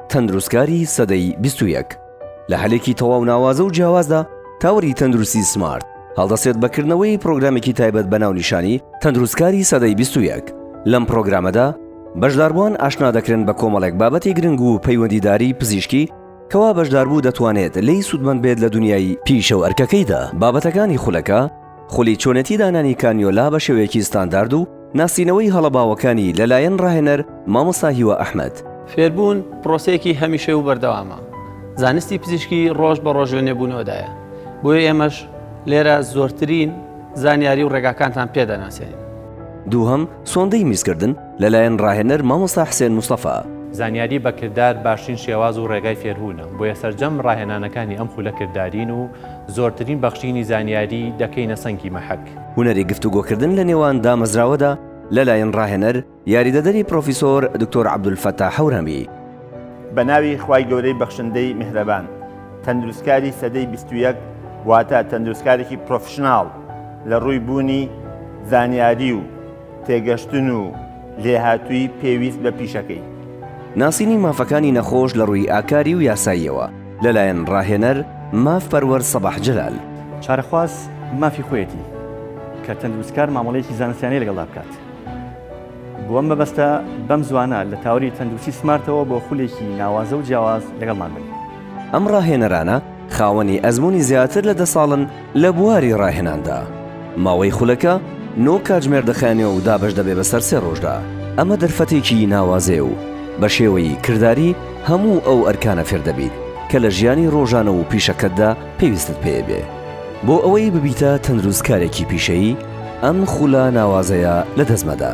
تەندروستکاری سەدەی بیست و یەک لە هەلێکی تەواو ناوازە و جیاوازدا تاوەری تەندروستی سمارت هەڵدەسێت بەکردنەوەی پرۆگرامێکی تایبەت بە ناونیشانی تەندروستکاری سەدەی بیست و یەک لەم پرۆگرامەدا بەشداربووان ئاشنا دەکرێن بە کۆمەڵێک بابەتی گرنگ و پەیوەندیداری پزیشکی کەوا بەشداربوو دەتوانێت لێی سوودمەند بێت لە دنیای پیشە و ئەرکەکەیدا بابەتەکانی خولەکە خولی چۆنێتی دانانی کانیۆلا بە شێوەیەکی ستاندارد و ناسینەوەی هەڵە باوەکانی لەلایەن ڕاهێنەر مامۆستا هیوا ئەحمەد. فێربوون پرۆسەیەکی هەمیشەی و بەردەوامە، زانستی پزیشکی ڕۆژ بە ڕۆژ لە نوێبوونەوەدایە، بۆیە ئێمەش لێرە زۆرترین زانیاری و ڕێگاکانتان پێ دەناسێنین. دووهەم، سۆندەی میزکردن، لەلایەن ڕاهێنەر مامۆستا حسێن مستەفا. زانیاری بە کردار باشترین شێواز و ڕێگای فێربوونە، بۆیە سەرجەم ڕاهێنانەکانی ئەم خولە کردارین و زۆرترین بەخشینی زانیاری دەکەینە سەنگی مەحەک. هونەری گفتوگۆکردن لە نێوان دامەزراوەدا لەلایەن ڕاهێنەر، یاریدەدەری پڕۆفیسۆر دکتۆر عەبدولفەتاح هەورامی. بە ناوی خوای گەورەی بەخشندەی میهرەبان. تەندروستکاری سەدەی بیست و یەک واتە تەندروستکارێکی پرۆفیشناڵ لە ڕووی بوونی زانیاری و. تێگەشتن و لێهاتوویی پێویست بە پیشەکەی. ناسینی مافەکانی نەخۆش لە ڕووی ئاکاری و یاساییەوە لەلایەن ڕاهێنەر ماف پەروەر سەباح جەلال. چارەخواز مافی خۆیەتی کە تەندروستکار مامەڵەیەکی زانستیانەی لەگەڵدا بکات. بۆ ئەم مەبەستە بەم زوانە لە تاوەری تەندروستی سمارتەوە بۆ خولێکی ناوازە و جیاواز لەگەڵمان بن. ئەم ڕاهێنەرانە خاوەنی ئەزموونی زیاتر لە دە ساڵن، لە بواری ڕاهێناندا، ماوەی خولەکە نۆ کاتژمێر دەخایەنێ و دابەش دەبێ بەسەر سێ ڕۆژدا. ئەمە دەرفەتێکی ناوازەیە و بە شێوەی کرداری هەموو ئەو ئەرکانە فێر دەبیت کە لە ژیانی ڕۆژانە و پیشەکەتدا پێویستت پێ بێ. بۆ ئەوەی ببیتە تەندروستکارێکی پیشەیی، ئەم خولە ناوازەیە لە دەست مەدە.